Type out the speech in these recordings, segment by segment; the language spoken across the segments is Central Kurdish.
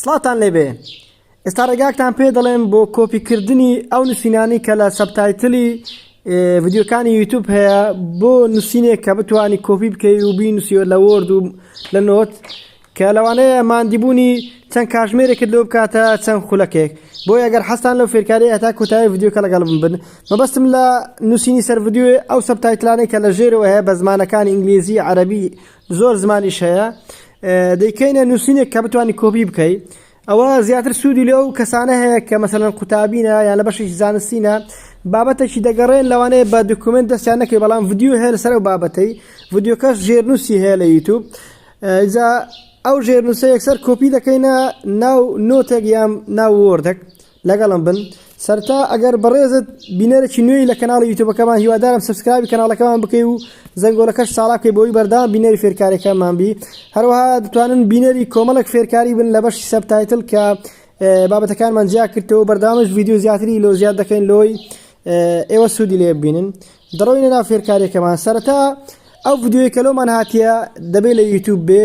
سڵاتان لێبێ ئێستا ڕێگاکتان پێ دەڵێن بۆ کۆپیکردنی ئەو نووسینانی کە لە سەبتایتلی ڤیددیوکانی یوتوب هەیە بۆ نووسینێک کە بتانی کۆپی بکەی و بی نووسیوە لە وەرد و لە نۆت کە لەوانەیە مادیبوونی چەند کاژمێرێکت لۆ بکاتە چەند خولەکێک بۆ ئەگەر حەستان لەو فێرکاری ئەتا کۆتایی ڤیددیوکە لەگەڵ من بن مەبەستم لە نووسینی سەر ڤیددیوێ ئەو سەبتایتلانەی کە لە ژێرەوە هەیە بە زمانەکانی ئینگلیزی عەربی زۆر زمانیش هەیە دەیکەینە نووسینێک کە بتوانانی کۆپی بکەیت ئەوە زیاتر سوودی لێ و کەسانە هەیە کە مەسەرەن قوتابینە یان لە بەشێکی زانستینە بابەتێکی دەگەڕێن لەوانەیە بە دکومنت دەستیان نەکەی بەڵام ڤیددیو هەیە لەسەر و بابەتەی ڤیددیوکەش ژێرنووسی هەیە لە یوتوب ئجا ئەو ژێرنووسە یەکسەر کۆپی دەکەینە ناو نۆتێک یان ناو وردەک لەگەڵم بن سەرتا ئەگەر بەڕێزت بینەرێکی نوێی لە کەناڵی یوتوبەکەمان هیوادارم سبسکرابی کەناڵەکەمان بکەی و زەنگۆلەکەش ساڵا بکەی بۆی بەردام بینەری فێرکارەکەمان بی هەروەها دەتوانن بینەری کۆمەڵک فێرکاری بن لە بەشی سەبتایتل کە بابەتەکانمان جیا کردەوە بەردامش ویددیو زیاتری لۆ زیاد دەکەین لۆی ئێوە سوودی لێ ببینن دەڕۆینە ناو فێرکارێکەکەمان سەرەتا ئەو ڤیددیوی کەلۆمان هاتیە دەبێت لە یوتوب بێ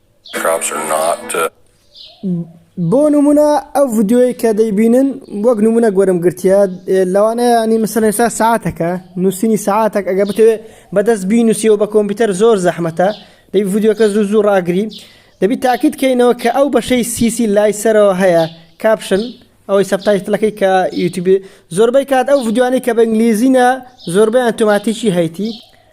بۆ نمونە ئەو ڤیدیۆیەی کە دەیبینن وەک نمونە گۆرم گرتیە لەوانەیە ینی مەسەن ئێستا ساعتەکە نووسینی ساعتەک ئەگە بتەوێت بەدەست بینوسیەوە بە کۆمپیوتەر زۆر زەحمەتە دەی ڤیددیوکە زوو زوو ڕاگری دەبی تاکیت کەینەوە کە ئەو بەشەی سیسی لای سەرەوە هەیە کاپشن ئەوەی سەبتایتلەکەی کە یوتیوب زۆربەی کات ئەو ڤیددیوانی کە بە ئینگلیزینە زۆربیان تۆماتیکی هەیتی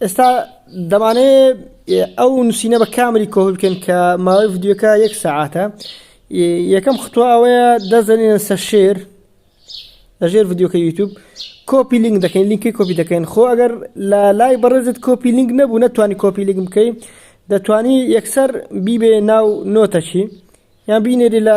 ئێستا دەمانەوێ ئەو نووسینە بە کامری کۆپی بکەین کە ماوەی ڤیدیۆکە یەک سەعاتە یەکەم خطوە ئەوەیە دەزەنین سە شێر لە ژێر ڤیدیۆکە یوتوب کۆپی لینک دەکەین لینکی کۆپی دەکەین خۆ ئەگەر لە لای بەڕێزت کۆپی لینک نەبوو نەتوانانی کۆپی لینک بکەی دەتوانی یەکسەر بیبێ ناو نۆتەچی یان بینێری لە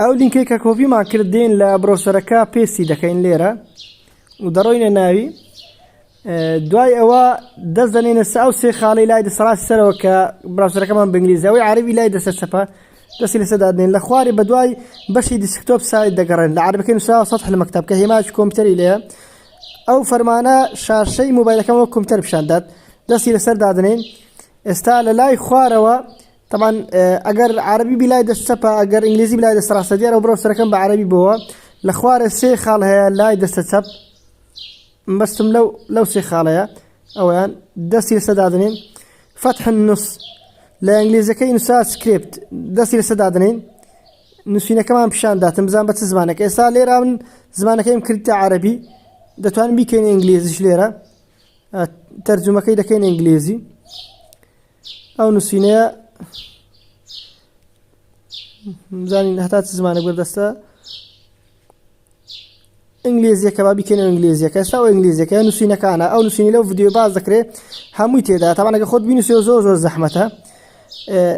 ئەو لینکەی کە کۆپیمان کرد دێین لە برۆسەرەکە پێستی دەکەین لێرە و دەڕۆینە ناوی دوای ئەوە دەست دەنێنە سا و سێ خاڵی لای دەسەڵاتی سەرەوە کە براسەرەکەمان بنگلیزەوەی عربی لای دەسە چەپە دەستی لەسە دادنێن لە خواری بە دوای بەشی دیسکتۆپ سای دەگەڕێن لە عربەکە نووسا سەد حلمەکتب کە هێماش کۆمپیوتەری لێە ئەو فەرمانە شاشەی موبایلەکەمەوە کۆمپیوتەر پیشاندات دەستی لەسەر دادنێن ئێستا لە لای خوارەوە تەبعەن ئەگەر عەرەبی بی لای دەست چەپە ئەگەر ئینگلیزی بی لای دەست ڕاستە دیارە و بڕەوسەرەکەم بە عەرەبی بووە لە خوارێ سێ خاڵ هەیە لای دەستە چەپ مەستم لەو لەو سێ خاڵەیە ئەویان دەستی لەسە دادنین فتح النص لە ئینگلیزەکەی نووسا سکرپت دەستی لەسە دادنین نووسینەکەمان پیشان داتم بزان بە چ زمانەکە ئێستا لێرا من زمانەکەیم کردتە عەربی دەتوانین بیکەین ئینگلیزیش لێرە تەرجمەکەی دەکەین ئینگلیزی ئەو نووسینەیە زانین هەتا چ زمانێک بەردەستە ئینگلیزیەکە با بیکەن و ئینگلیزیەکە سا و ئینگلیزیەکە نووسینەکانە ئەو نووسینی لەو ڤیددیو باز دەکرێت هەمووی تێدا تاوانەکە خۆت بینوسێ زۆر زۆر زەحمەتە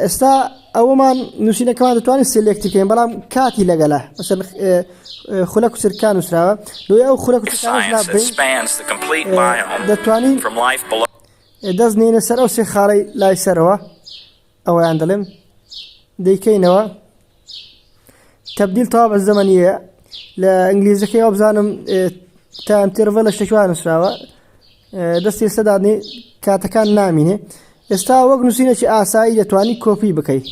ئێستا ئەوەمان نووسینەکەمان دەتوانین سلێکتیکەین بەڵام کاتی لەگەلە مەسەر خولە کوچرکان نووسراوە لۆی ئەو خولە دەتوانین دەست نێنە سەر ئەو سێ خاڵەی لای سەرەوە ئەوەیان دەڵێم دەیکەینەوە تبدیل تەوا بە زەمەنیە لە ئینگلیزەکەی ئەو بزانم تام تێرڤە لە شتێکوان نووسراوە دەستی سەدادنی کاتەکان نامینێ ئێستا وەک نووسینەی ئاسایی دەتوانی کۆپی بکەی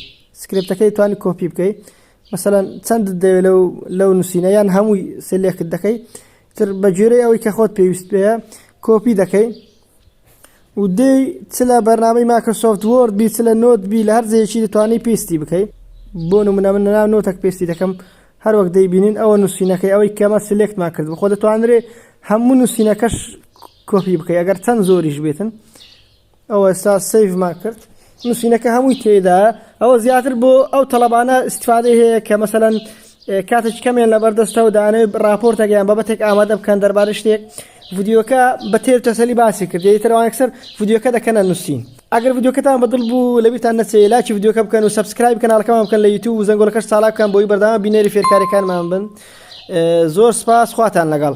سکرپتەکەی توانی کۆپی بکەی مەسەەن چەند دەوێت لەو لەو نووسینە یان هەمووی سلێکت دەکەی تر بە گوێرەی ئەوەی کە خۆت پێویست پێیە کۆپی دەکەی و دێی چ لە بەرنامەی ماکرۆسۆفت وۆرد بی چ لە نۆت بی لە هەر جێکی دەتوانی پێستی بکەی بۆ نمونە من ناو نۆتەک پێستی دەکەم هەروەک دەیبینین ئەوە نووسینەکەی ئەوەی کەمە سلێکتمان کرد بخۆ دەتوانرێ هەموو نووسینەکەش کۆپی بکەی ئەگەر چەند زۆریش بێتن ئەوە ئێستا سەیڤمان کرد نووسینەکە هەمووی تێدایە ئەوە زیاتر بۆ ئەو تەلەبانە استفادەی هەیە کە مەسەەن کاتێک کەمێن لە بەردەستەوە دانێ راپۆرتەکەیان بەبەتێک ئامادە بکەن دەربارە شتێک ڤیددیوکە بە تێر تەسەلی باسی کرد یترەوانکسەر ڤیددیوکە دەکەنە نووسین ئەگەر ڤیددیوکەتان بەدڵ بوو لەبیتان نەچێ لاکی ڤیددیوکە بکەن و سبسکرایب کەناڵەکەمان بکەن لە یوتوب و زەنگۆلەکەش ساڵا بکەن بۆی بەردەوام بینێری فێرکاریەکانمان بن زۆر سپاس خواتان لەگەڵ